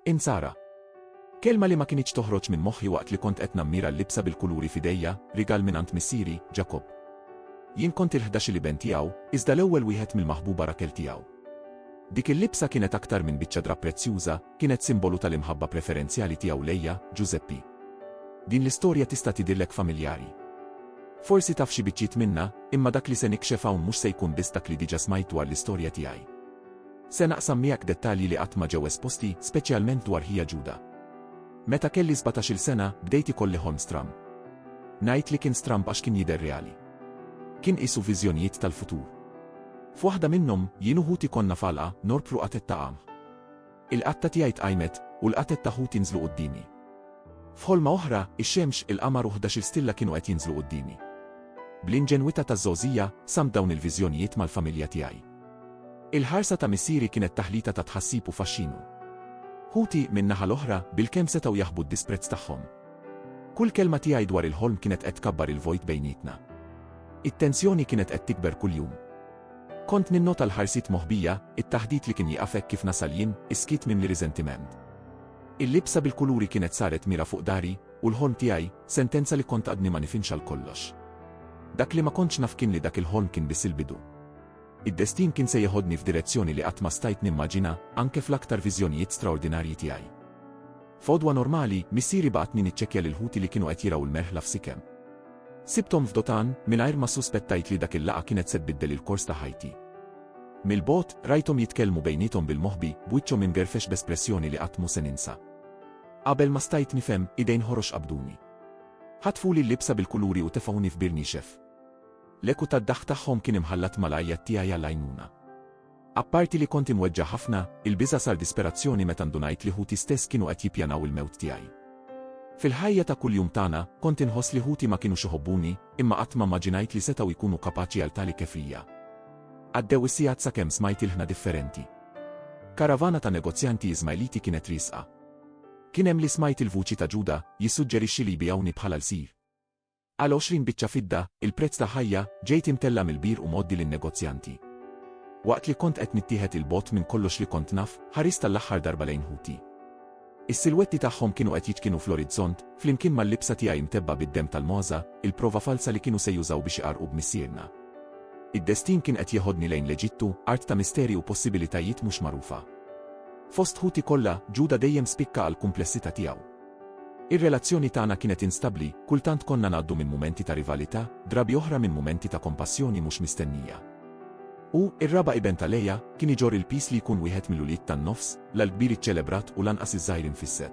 Insara. Kelma li ma kinitx toħroġ minn moħħi waqt li kont qed nammira l-libsa bil-kuluri f'idejja, rigal minn għand missieri, Ġakobb. Jien kont il-ħdax il-iben tiegħu, iżda l-ewwel wieħed mill-maħbuba Rakel tiegħu. Dik il-libsa kienet aktar minn biċċa drapp prezzjuża, kienet simbolu tal-imħabba preferenzjali tiegħu lejja, Ġużeppi. Din l-istorja tista' tidhirlek familjari. Forsi taf xi biċċiet minnha, imma dak li se nikxef hawn mhux se jkun biss dak li diġà smajt dwar l-istorja tiegħi. Se naqsam miegħek dettalji li qatt ma ġew esposti, speċjalment dwar ħija Ġuda. Meta kelli sbatax-il sena, bdejt ikolli ħolm stramb. Ngħid li kien stramb għax kien jidher reali. Kien qisu viżjonijiet tal-futur. F'waħda minnhom, jien u ħuti konna f'għalqa, norbru qatgħet ta' qamħ. Il-qatta tiegħi tqajmet, u l-qatgħet ta' ħuti nżlu quddiemi. F'ħolma oħra, ix-xemx, il-qamar u ħdax-il stilla kienu qed jinżlu quddiemi. Bl-inġenwità taż-żgħożija, samt dawn il-viżjonijiet mal-familja tiegħi. Il-ħarsa ta' missieri kienet taħlita ta' tħassib u faxxinu. Ħuti, min-naħa l-oħra, bilkemm setgħu jaħbu d-disprezz tagħhom. Kull kelma tiegħi dwar il-ħolm kienet qed tkabbar il-vojt bejnietna. It-tensjoni kienet qed tikber kuljum. Kont ninnota l-ħarsiet moħbija, it-taħdit li kien jieqaf hekk kif nasal jien, is-skiet mimli riżentiment. Il-libsa bil-kuluri kienet saret mira fuq dari, u l-ħolm tiegħi, sentenza li kont għadni ma nifinx għal kollox. Dak li ma kontx naf kien li dak il-ħolm kien biss il-bidu. Id-destin kien se jeħodni f'direzzjoni li qatt ma stajt nimmaġina, anke fl-aktar viżjonijiet straordinarji tiegħi. F'għodwa normali, missieri bagħatni niċċekkja lil ħuti li kienu qed jirgħu l-merħla f'sikem. Sibthom f'dotan, mingħajr ma ssuspettajt li dak il-laqgħa kienet se tbiddel il-kors ta' ħajti. Mill-bogħod, rajthom jitkellmu bejniethom bil-moħbi, b'wiċċhom imgerfex b'espressjoni li qatt mhu se ninsa. Qabel ma stajt nifhem, idejn ħorox qabduni. Ħatfuli l-libsa bil-kuluri u tefgħuni f'bir nixef. L-eku tad-daħk tagħhom kien imħallat mal-għajjat tiegħi għall-għajnuna. Apparti li kont imweġġa' ħafna, il-biża' sar disperazzjoni meta ndunajt li ħuti stess kienu qed jippjanaw il-mewt tiegħi. Fil-ħajja ta' kuljum tagħna, kont inħoss li ħuti ma kinux iħobbuni, imma qatt ma mmaġinajt li setgħu jkunu kapaċi għal tali kefrija. Għaddew is-sigħat sakemm smajt ilħna differenti. Karavana ta' negozjanti Iżmajliti kienet riesqa. Kien hemm li smajt il-vuċi ta' Ġuda jissuġġerixxi li jbigħuni bħala lsir. Għal għoxrin biċċa fidda, il-prezz ta' ħajja, ġejt imtella' mill-bir u mgħoddi lin-negozjanti. Waqt li kont qed nittieħed 'il bogħod minn kollox li kont naf, ħarist għall-aħħar darba lejn ħuti. Is-silwetti tagħhom kienu qed jiċkinu fl-orizzont, flimkien mal-libsa tiegħi mtebba bid-demm tal-mogħża, il-prova falza li kienu se jużaw biex iqarrqu b'missierna. Id-destin kien qed jeħodni lejn l-Eġittu, art ta' misteri u possibilitajiet mhux magħrufa. Fost ħuti kollha, Ġuda dejjem spikka għall-kumplessità tiegħu. Ir-relazzjoni tagħna kienet instabbli, kultant konna ngħaddu minn mumenti ta' rivalità, drabi oħra minn mumenti ta' kompassjoni mhux mistennija. U, ir-raba' iben ta' Leia, kien iġorr il-piż li jkun wieħed mill-ulied tan-nofs, la l-kbir iċċelebrat u lanqas iż-żgħir infisset.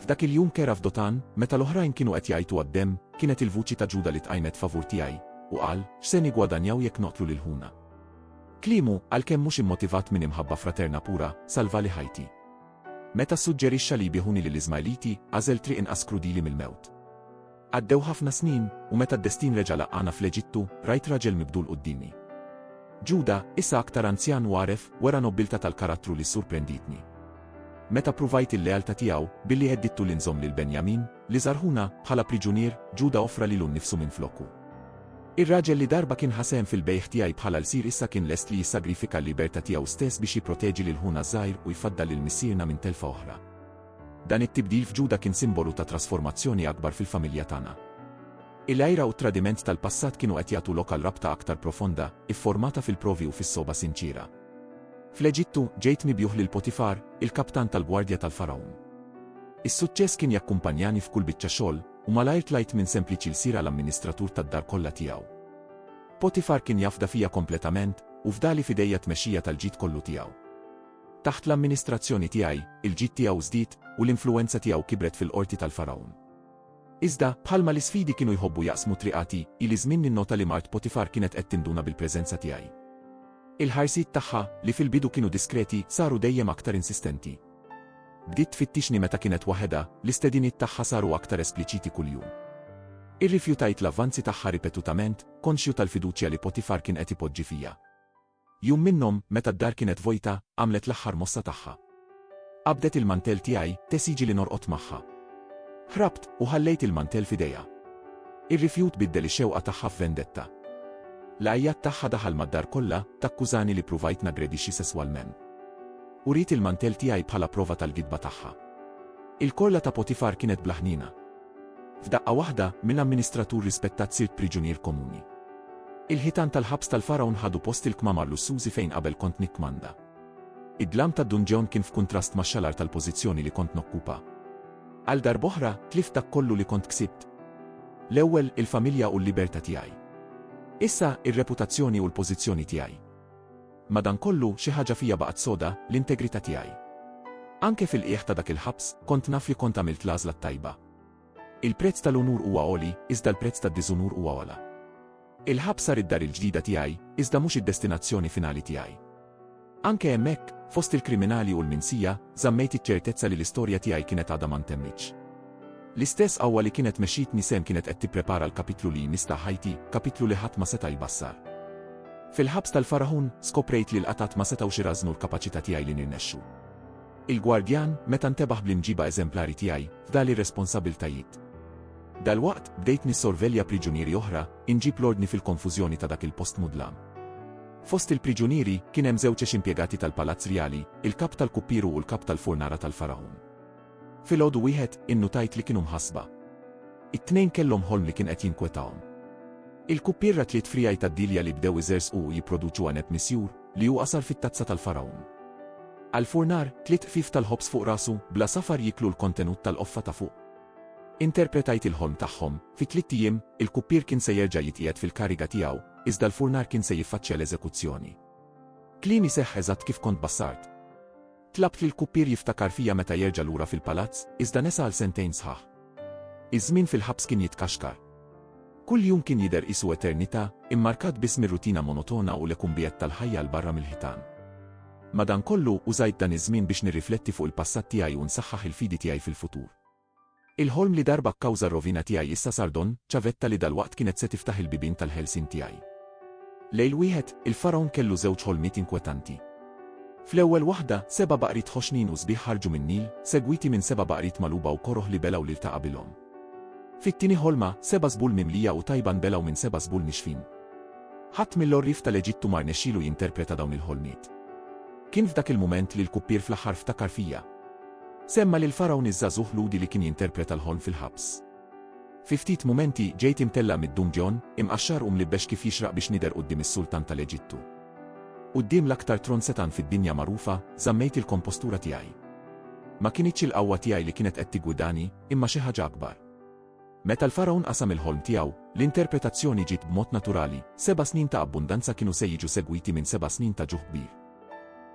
F'dak il-jum kera f'Dotan, meta l-oħrajn kienu qed jgħajtu għad-demm, kienet il-vuċi ta' Ġuda li tqajmet favur tiegħi, u qal, X'se niggwadanjaw jekk noqtlu lil ħuna? Kliemu, għalkemm mhux immotivat minn imħabba fraterna pura, salvali ħajti. Meta ssuġġerixxa li jbiegħuni lill-Iżmajliti, għażel triq inqas krudili mill-mewt. Għaddew ħafna snin, u meta d-destin reġa' laqqagħna fl-Eġittu, rajt raġel mibdul quddiemi. Ġuda, issa aktar anzjan u għaref, wera nobbiltà tal-karattru li ssurprendietni. Meta pruvajt il-lealtà tiegħu, billi heddidtu li nżomm lil Benjamin, Li żarhuna, bħala priġunier, Ġuda offra lilu nnifsu minflokku. Ir-raġel li darba kien ħa sehem fil-bejgħ tiegħi bħala lsir issa kien lest li jissagrifika l-libertà tiegħu stess biex jipproteġi lil ħuna ż-żgħir u jfaddal lil missierna minn telfa oħra. Dan it-tibdil f'Ġuda kien simbolu ta' trasformazzjoni akbar fil-familja tagħna. Il-għira u t-tradiment tal-passat kienu qed jagħtu lok għal rabta aktar profonda, ifformata fil-provi u fis-sogħba sinċiera. Fl-Eġittu, ġejt mibjugħ lil Potifar, il-kaptan tal-gwardja tal-Fargħun. Is-suċċess kien jakkumpanjani f'kull biċċa xogħol, u malajr tlajt minn sempliċi lsir għal amministratur tad-dar kollha tiegħu. Potifar kien jafda fija kompletament, u fdali f'idejja t-tmexxija tal-ġid kollu tiegħu. Taħt l-amministrazzjoni tiegħi, il-ġid tiegħu żdied, u l-influwenza tiegħu kibret fil-qorti tal-Fargħun. Iżda, bħalma l-isfidi kienu jħobbu jaqsmu t-triq għati, ili żmien ninnota li mart Potifar kienet qed tinduna bil-preżenza tiegħi. Il-ħarsiet tagħha, li fil-bidu kienu diskreti, saru dejjem aktar insistenti. Bdiet tfittixni meta kienet waħedha, l-istediniet tagħha saru aktar espliċiti kuljum. Irrifjutajt l-avvanzi tagħha ripetutament, konxju tal-fiduċja li Potifar kien qed ipoġġi fija. Jum minnhom, meta d-dar kienet vojta, għamlet l-aħħar mossa tagħha. Qabdet il-mantell tiegħi, tesiġi li norqod magħha. Ħrabt, u ħallejt il-mantell f'idejha. Ir-rifjut biddel ix-xewqa tagħha f'vendetta. L-għajjat tagħha daħal mad-dar kollha, takkużani li pruvajt naggredixxi sesswalment. Uriet il-mantell tiegħi bħala prova tal-gidba tagħha. Il-korla ta' Potifar kienet bla ħniena. F'daqqa waħda, mill-amministratur rispettat sirt priġunier komuni. Il-ħitan tal-ħabs tal-Fargħun ħadu post il-kmamar lussużi fejn qabel kont nikkmanda. Id-dlam tad-dunġeon kien f'kuntrast max-xalar tal-pożizzjoni li kont nokkupa. Għal darb'oħra, tlift dak kollu li kont ksibt. L-ewwel, il-familja u l-libertà tiegħi. Issa, ir-reputazzjoni u l-pożizzjoni tiegħi. Madankollu, xi ħaġa fija baqgħet soda, l-integrità tiegħi. Anke fil-qiegħ ta' dak il-ħabs, kont naf li kont għamilt l-għażla t-tajba. Il-prezz tal-unur huwa għoli, iżda l-prezz tad-diżunur huwa ogħla. Il-ħabs sar id-dar il-ġdida tiegħi, iżda mhux id-destinazzjoni finali tiegħi. Anke hemmhekk, fost il-kriminali u l-minsija, żammejt iċ-ċertezza li l-istorja tiegħi kienet għadha ma ntemmitx. L-istess qawwa li kienet mexxietni sehem kienet qed tipprepara l-kapitlu li jmiss ta' ħajti, kapitlu li ħadd ma seta' jbassar. Fil-ħabs tal-Faragħun, skoprejt li l-qatgħat ma setgħux irażżnu l-kapaċità tiegħi li nirnexxu. Il-gwardjan, meta ntebaħ bl-imġiba eżemplari tiegħi, fdali r-responsabbiltajiet. Dalwaqt, bdejt nissorvelja priġunieri oħra, inġib l-ordni fil-konfużjoni ta' dak il-post mudlam. Fost il-priġunieri, kien hemm żewġ ex-impjegati tal-Palazz Rjali, il-kap tal-kuppieru u l-kap tal-furnara tal-Faragħun. Filgħodu wieħed, innutajt li kienu mħassba. It-tnejn kellhom ħolm li kien qed jinkwetahom. Il-kuppiera tliet frijaj tad-dilja li bdew iżerżqu u jipproduċu għeneb misjur, li hu qasar fit-tazza tal-Fargħun. Għall-furnar, tliet qfief tal-ħobż fuq rasu, bla safar jieklu l-kontenut tal-qoffa ta' fuq. Interpretajt il-ħolm tagħhom, fi tliet ijiem, il-kuppier kien se jerġa' jitqiegħed fil-kariga tiegħu, iżda l-furnar kien se jiffaċċja l-eżekuzzjoni. Kliemi seħħ eżatt kif kont bassart. Tlabt lill-kuppier jiftakar fija meta jerġa' lura fil-palazz, iżda nesa għal sentejn sħaħ. Iż-żmien fil-ħabs kien jitkaxkar. Kull jum kien jidher qisu eternità, immarkat biss mir-rutina monotona u l-ekumbijet tal-ħajja 'l barra mill-ħitan. Madankollu, użajt dan iż-żmien biex nirrifletti fuq il-passat tiegħi u nsaħħaħ il-fidi tiegħi fil-futur. Il-ħolm li darba kkawża r-rovina tiegħi issa sar don, ċavetta li dalwaqt kienet se tiftaħ il-bibien tal-ħelsien tiegħi. Lejl wieħed, il-Fargħun kellu żewġ ħolmiet inkwetanti. Fl-ewwel waħda, seba' baqriet ħoxnin u sbieħ ħarġu min-Nil, segwiti minn seba' baqriet magħluba u koroh li belgħu lil ta' qabilhom. Fit-tieni ħolma, seba' żbul mimlija u tajba nbelgħu minn seba' żbul nixfin. Ħadd mill-għorrief tal-Eġittu ma rnexxielu jinterpreta dawn il-ħolmiet. Kien f'dak il-mument li l-kuppier fl-aħħar ftakar fija. Semma lill-Fargħun iż-żagħżugħ Lhudi li kien jinterpreta l-ħolm fil-ħabs. Fi ftit mumenti, ġejt imtellaq mid-dunġjon, imqaxxar u mlibbex kif jixraq biex nidher quddiem is-Sultan tal-Eġittu. Quddiem l-aktar tron setgħan fid-dinja magħrufa, żammejt il-kompostura tiegħi. Ma kinitx il-qawwa tiegħi li kienet qed tiggwidani, imma xi ħaġa akbar. Meta l-Fargħun qasam il-ħolm tiegħu, l-interpretazzjoni ġiet b'mod naturali, seba' snin ta' abbundanza kienu se jiġu segwiti minn seba' snin ta' ġuħ kbir.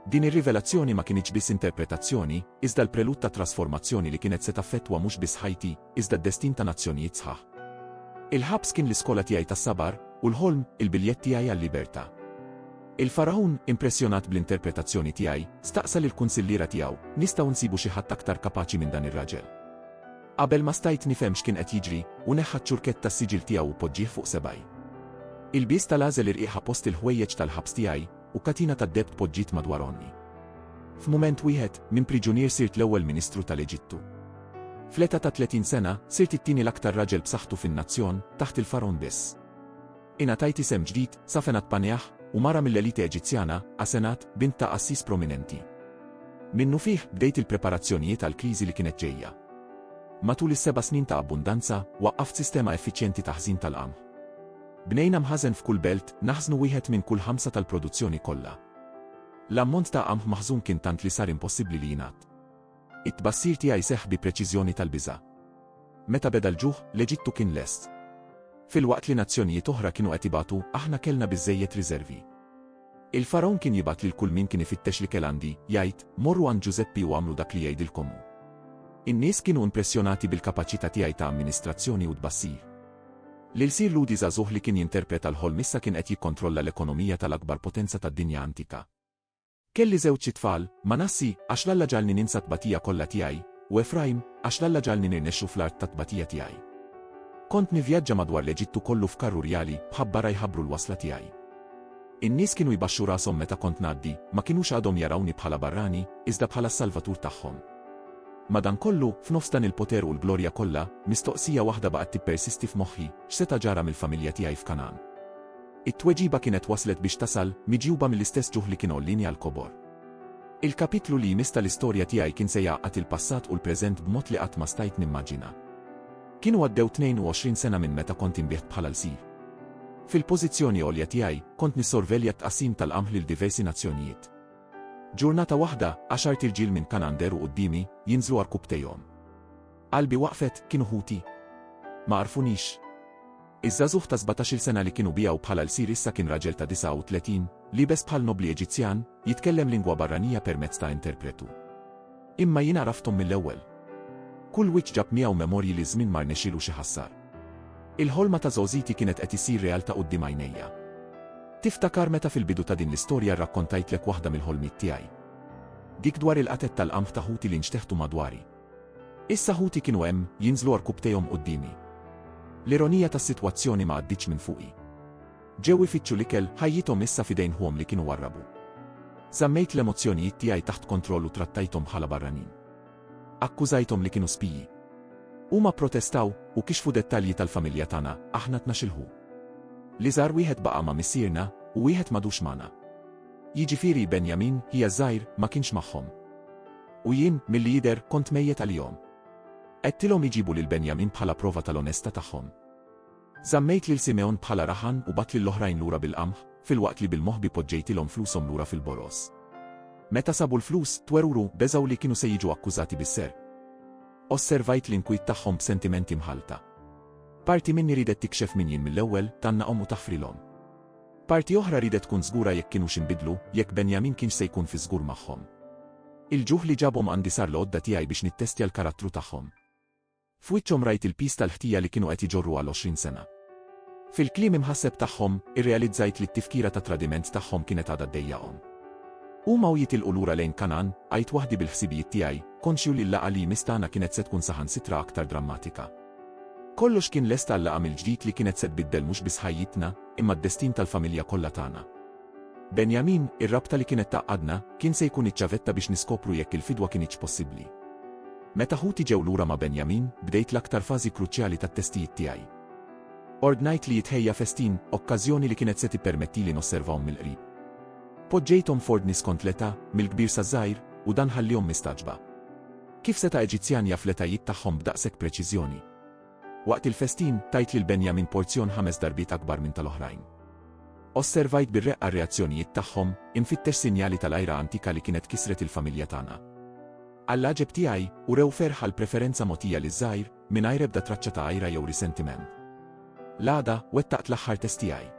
Din ir-rivelazzjoni ma kinitx biss interpretazzjoni, iżda l-prelud ta' trasformazzjoni li kienet se taffettwa mhux biss ħajti, iżda d-destin ta' nazzjonijiet sħaħ. Il-ħabs kien l-iskola tiegħi tas-sabar, u l-ħolm, il-biljett tiegħi għal-libertà. Il-Fargħun, impressjonat bl-interpretazzjoni tiegħi, staqsa lill-kunsilliera tiegħu, Nistgħu nsibu xi ħadd aktar kapaċi minn dan ir-raġel? Qabel ma stajt nifhem x'kien qed jiġri, hu neħħa ċ-ċurkett tas-siġill tiegħu u poġġieh fuq sebgħi. Ilbies tal-għażel irqiqa post il-ħwejjeġ tal-ħabs tiegħi, u katina tad-deheb tpoġġiet madwar għonqi. F'mument wieħed, minn priġunier sirt l-ewwel Ministru tal-Eġittu. Fl-età ta' 30 sena, sirt it-tieni l-aktar raġel b'saħħtu fin-nazzjon, taħt il-Fargħun biss. Ingħatajt isem ġdid, Safenat Paneah, u mara mill-elite Eġizzjana, Asenat, bint ta' qassis prominenti. Minnufih, bdejt il-preparazzjonijiet għall-kriżi li kienet ġejja. Matul is-seba' snin ta' abbundanza, waqqaft sistema effiċjenti ta' ħżin tal-qamħ. Bnejna mħażen f'kull belt, naħżnu wieħed minn kull ħamsa tal-produzzjoni kollha. L-ammont ta' qamħ maħżun kien tant li sar impossibbli li jingħadd. It-tbassir tiegħi seħħ bi preċiżjoni tal-biża'. Meta beda l-ġuħ, l-Eġittu kien lest. Filwaqt li nazzjonijiet oħra kienu qed ibatu, aħna kellna biżżejjed riżervi. Il-Fargħun kien jibgħat lil kull min kien ifittex l-ikel għandi, jgħid, Morru għand Ġużeppi u agħmlu dak li jgħidilkom hu. In-nies kienu impressjonati bil-kapaċità tiegħi ta' amministrazzjoni u tbassir. L-ilsir Ludi żagħżugħ li kien jinterpreta l-ħolm issa kien qed jikkontrolla l-ekonomija tal-akbar potenza tad-dinja antika. Kelli żewġ itfal, Manassi, għax l-Alla ġagħalni ninsa t-tbatija kollha tiegħi, u Efrajm, għax l-Alla ġagħalni nirnexxu fl-art tat-tbatija tiegħi. Kont nivvjaġġa madwar l-Eġittu kollu f'karru rjali, b'ħabbara jħabbru l-wasla tiegħi. In-nies kienu jbaxxu rashom meta kont ngħaddi, ma kinux għadhom jarawni bħala barrani, iżda bħala s-Salvatur tagħhom. Madankollu, f'nofs dan il-poter u l-glorja kollha, mistoqsija waħda baqgħet tippersisti f'moħħi, x'seta' ġara mill-familja tiegħi f'Kangħan? It-tweġiba kienet waslet biex tasal, miġjuba mill-istess ġuħ li kien għollini għall-kobor. Il-kapitlu li jmiss tal-istorja tiegħi kien se jgħaqqad il-passat u l-preżent b'mod li qatt ma stajt nimmaġina. Kienu għaddew 22 sena minn meta kont inbiegħt bħala lsir. Fil-pożizzjoni għolja tiegħi, kont nissorvelja t-tqassim tal-qamħ lil diversi nazzjonijiet. Ġurnata waħda, għaxart irġiel minn Kanander u quddiemi, jinżlu għarkubtejhom. Qalbi waqfet, kienu ħuti. Ma għarfunix. Iż-żagħżugħ ta' sbatax-il sena li kienu biegħu bħala lsir issa kien raġel ta' 39, liebes bħal nobbli Eġizzjan, jitkellem lingwa barranija permezz ta' interpretu. Imma jien għarafthom mill-ewwel. Kull wiċċ ġab miegħu memorji li ż-żmien ma rnexxielu xi ħassar. Il-ħolma ta' żgħożiti kienet qed issir realtà quddiem għajnejja. Tiftakar meta fil-bidu ta' din l-istorja rrakkontajtlek waħda mill-ħolmiet tiegħi? Dik dwar il-qatgħet tal-qamħ ta' ħuti li nxteħtu madwari. Issa ħuti kienu hemm, jinżlu għarkupptejhom quddiemi. L-ironija tas-sitwazzjoni ma għaddietx minn fuqi. Ġew ifittxu l-ikel, ħajjithom issa f'idejn ħuhom li kienu warrabu. Żammejt l-emozzjonijiet tiegħi taħt kontroll u trattajthom bħala barranin. Akkużajthom li kienu spiji. Huma pprotestaw, u kixfu dettalji tal-familja tagħna, aħna tnax-il ħu. L-iżgħar wieħed baqa' ma' missierna, u wieħed m'għadux magħna. Jiġifieri Benjamin, ħija ż-żgħir, ma kienx magħhom. U jien, milli jidher, kont mejjet għalihom. Għedtilhom iġibu lil Benjamin bħala prova tal-onestà tagħhom. Żammejt lil Simegħon bħala rahan u bgħatt lill-oħrajn lura bil-qamħ, filwaqt li bil-moħbi poġġejtilhom flushom lura fil-boroż. Meta sabu l-flus, twerwru, beżgħu li kienu se jiġu akkużati bis-serq. Osservajt l-inkwiet tagħhom b'sentimenti mħallta. Parti minni riedet tikxef min jien mill-ewwel, tgħannaqhom u taħfrilhom. Parti oħra riedet tkun żgura jekk kinux inbidlu, jekk Benjamin kienx se jkun fi żgur magħhom. Il-ġuħ li ġabhom għandi sar l-għodda tiegħi biex nittestja l-karattru tagħhom. F'wiċċhom rajt il-piż tal-ħtija li kienu qed iġorru għal għoxrin sena. Fil-kliem imħasseb tagħhom, irrealizzajt li t-tifkira tat-tradiment tagħhom kienet għadha ddejjaqhom. Huma u jitilqu lura lejn Kanan, għidt waħdi bil-ħsibijiet tiegħi, konxju li l-laqgħa li jmiss tagħna kienet se tkun saħansitra aktar drammatika. Kollox kien lest għal-laqgħa mill-ġdid li kienet se tbiddel mhux biss ħajjitna, imma d-destin tal-familja kollha tagħna. Benjamin, ir-rabta li kienet tgħaqqadna, kien se jkun iċ-ċavetta biex niskopru jekk il-fidwa kinitx possibbli. Meta ħuti ġew lura ma' Benjamin, bdejt l-aktar fażi kruċjali tat-testijiet tiegħi. Ordnajt li jitħejja festin, okkażjoni li kienet se tippermettili nosservahom mill-qrib. Poġġejthom f'ordni skont l-età, mill-kbir saż-żgħir, u dan ħalliehom mistagħġba. Kif seta' Eġizzjan jaf l-etajiet tagħhom b'daqshekk preċiżjoni? Waqt il-festin, tajt lil Benjamin porzjon ħames darbiet akbar minn tal-oħrajn. Osservajt bir-reqqa r-reazzjonijiet tagħhom, infittex sinjali tal-għira antika li kienet kisret il-familja tagħna. Għall-għaġeb tiegħi, urew ferħ għall-preferenza mogħtija liż-żgħir, Mingħajr ebda traċċa ta' għira jew risentiment. L-għada, wettaqt l-aħħar test tiegħi.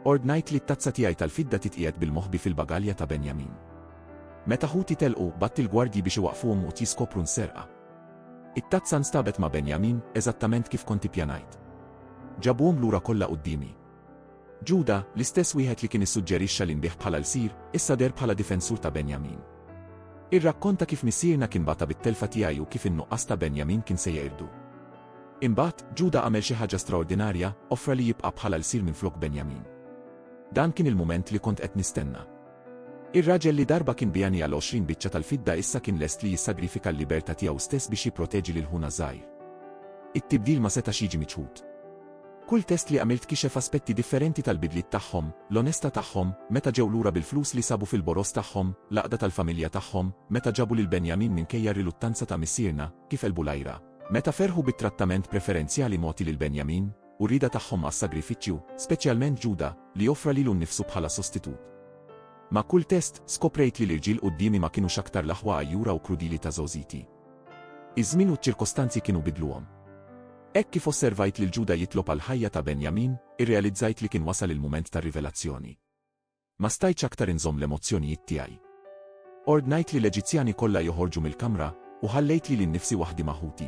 Ordnajt li t-tazza tiegħi tal-fidda titqiegħed bil-moħbi fil-bagalja ta' Benjamin. Meta ħuti telqu, batt il-gwardji biex iwaqqfuhom u tjiskopru nserqa. It-tazza nstabet ma' Benjamin, eżattament kif kont ippjanajt. Ġabuhom lura kollha quddiemi. Ġuda, l-istess wieħed li kien issuġġerixxa li nbigħ bħala lsir, issa deher bħala difensur ta' Benjamin. Irrakkonta kif missierna kien bata bit-telfa tiegħi u kif in-nuqqas ta' Benjamin kien se jqirdu. Imbagħad, Ġuda għamel xi ħaġa straordinarja, offra li jibqa' bħala lsir minflok Benjamin. Dan kien il-mument li kont qed nistenna. Ir-raġel li darba kien bijani għal 20 biċċa tal-fidda issa kien lest li jissagrifika l-libertà tiegħu stess biex jipproteġi lil ħuna żgħir. It-tibdil ma setax jiġi miċħud. Kull test li għamilt kixef aspetti differenti tal-bidliet tagħhom, l-onestà tagħhom, meta ġew lura bil-flus li sabu fil-boroż tagħhom, l-għaqda tal-familja tagħhom, meta ġabu lil Benjamin minkejja r-riluttanza ta' missierna, kif għelbu l-għira, meta ferħu bit-trattament preferenzjali mogħti lil Benjamin, u r-rieda tagħhom għas-sagrifiċċju, speċjalment Ġuda, li offra lilu nnifsu bħala sostitut. Ma' kull test, skoprejt li l-irġiel quddiemi ma kinux aktar l-aħwa għajjura u krudili ta' żgħożiti. Iż-żmien u ċ-ċirkostanzi kienu bidluhom. Hekk kif osservajt lil Ġuda jitlob għall-ħajja ta' Benjamin, irrealizzajt li kien wasal il-mument tar-rivelazzjoni. Ma stajtx aktar inżomm l-emozzjonijiet tiegħi. Ordnajt li l-Eġizzjani kollha joħorġu mill-kamra u ħallejt lili nnifsi waħdi ma' ħuti.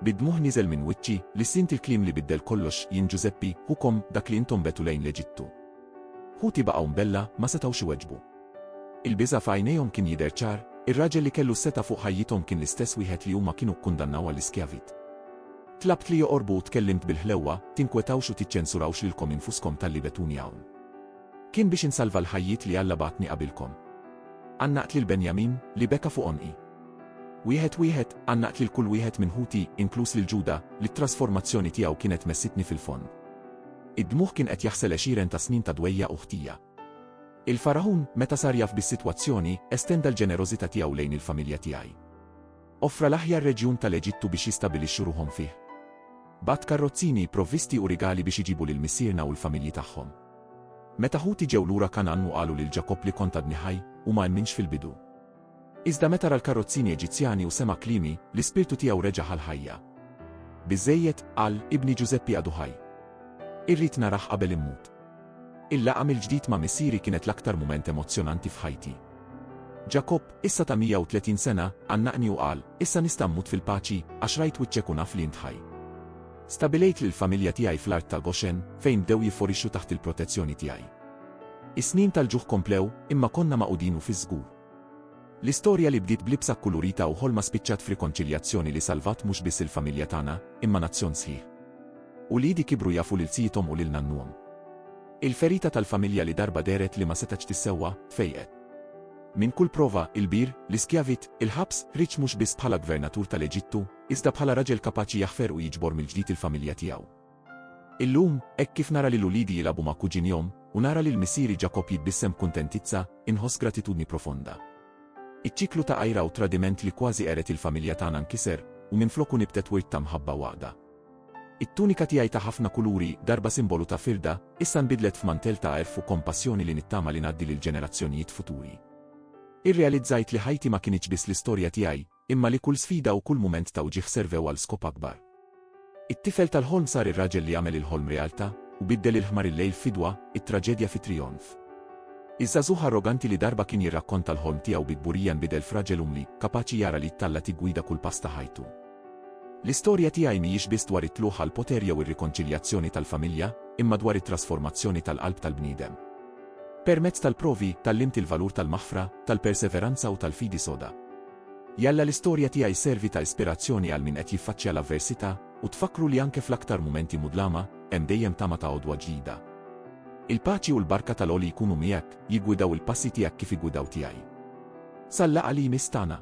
Bid-dmugħ niżel minn wiċċi, lissint il-kliem li biddel kollox, jien Ġużeppi, ħukom, dak li intom begħtu lejn l-Eġittu. Ħuti baqgħu mbella, ma setgħux iweġbu. Il-biża' f'għajnejhom kien jidher ċar, ir-raġel li kellu s-setgħa fuq ħajjithom kien l-istess wieħed li huma kienu kkundannaw għall-iskjavit. Tlabt li joqorbu u tkellimt bil-ħlewwa, tinkwetawx u tiċċensurawx lilkom infuskom talli begħtuni hawn. Kien biex insalva l-ħajjiet li Alla bagħatni qabilkom. Għannaqt lil Benjamin, li beka fuq għonqi. Wieħed wieħed, għannaqt lil kull wieħed minn ħuti, inkluż lil Ġuda, li t-trasformazzjoni tiegħu kienet messitni fil-fond. Id-dmugħ kien qed jaħsel għexieren ta' snin ta' dwejjaq u ħtija. Il-Faraħun, meta sar jaf bis-sitwazzjoni, estenda l-ġenerożità tiegħu lejn il-familja tiegħi. Offra l-aħjar reġjun tal-Eġittu biex jistabilixxu ruħhom fih. Bagħat karrozzini, provvisti u rigali biex iġibu lil missierna u l-familji tagħhom. Meta ħuti ġew lura Kangħan u qalu lil Ġakobb li kont għadni ħaj, hu ma emminx fil-bidu. Iżda meta ra l-karrozzini Eġizzjani u sema' kliemi, l-ispirtu tiegħu reġa' ħa l-ħajja. Biżżejjed, qal, ibni Ġużeppi għadu ħaj. Irrid narah qabel immut. Il-laqgħa mill-ġdid ma' missieri kienet l-aktar mument emozzjonanti f'ħajti. Ġakobb, issa ta' 130 sena, għannaqni u qal, Issa nista' mmut fil-paċi, għax rajt wiċċek u naf li int ħaj. Stabbilejt lill-familja tiegħi fl-art ta' Goshen, fejn bdew jifforixxu taħt il-protezzjoni tiegħi. Is-snin tal-ġuħ komplew, imma konna magħqudin u fiż-żgur. L-istorja li bdiet b'libsa kkulurita u ħolma spiċċat f'rikonċiljazzjoni li salvat mhux biss il-familja tagħna, imma nazzjon sħiħ. Uliedi kibru jafu lil tjiethom u lil nannuhom. Il-ferita tal-familja li darba dehret li ma setgħetx tissewwa, tfejqet. Minn kull prova, il-bir, l-iskjavit, il-ħabs, ħriġ mhux biss bħala gvernatur tal-Eġittu, iżda bħala raġel kapaċi jaħfer u jiġbor mill-ġdid il-familja tiegħu. Illum, hekk kif nara lil uliedi jilagħbu ma' kuġinhom, u nara lil missieri Ġakobb jitbissem b'kuntentizza, inħoss gratitudni profonda. Iċ-ċiklu ta' għira u tradiment li kważi qered il-familja tagħna nkiser, u minfloku nibtet wirt ta' mħabba u għaqda. It-tunika tiegħi ta' ħafna kuluri, darba simbolu ta' firda, issa nbidlet f'mantell ta' għerf u kompassjoni li nittama li ngħaddi lill-ġenerazzjonijiet futuri. Irrealizzajt li ħajti ma kinitx biss l-istorja tiegħi, imma li kull sfida u kull mument ta' wġigħ servew għal skop akbar. It-tifel tal-ħolm sar ir-raġel li għamel il-ħolm realtà u biddel il-ħmar il-lejl f'fidwa, it-traġedja fi trijonf. Iż-żagħżugħ arroganti li darba kien jirrakkonta l-ħolm tiegħu bi kburija nbidel f'raġel umli, kapaċi jara li t-talla tiggwida kull pass ta' ħajtu. L-istorja tiegħi mhijiex biss dwar it-tlugħ għall-poter jew ir-rikonċiljazzjoni tal-familja, imma dwar it-trasformazzjoni tal-qalb tal-bniedem. Permezz tal-provi, tgħallimt il-valur tal-maħfra, tal-perseveranza u tal-fidi soda. Jalla l-istorja tiegħi sservi ta' ispirazzjoni għal min qed jiffaċċja l-avversità, u tfakkru li anke fl-aktar mumenti mudlama, hemm dejjem tama ta' għodwa ġdida. Il-paċi u l-barka tal-Għoli jkunu miegħek, jiggwidaw il-passi tiegħek kif iggwidaw tiegħi. Sal-laqgħa li jmiss tagħna.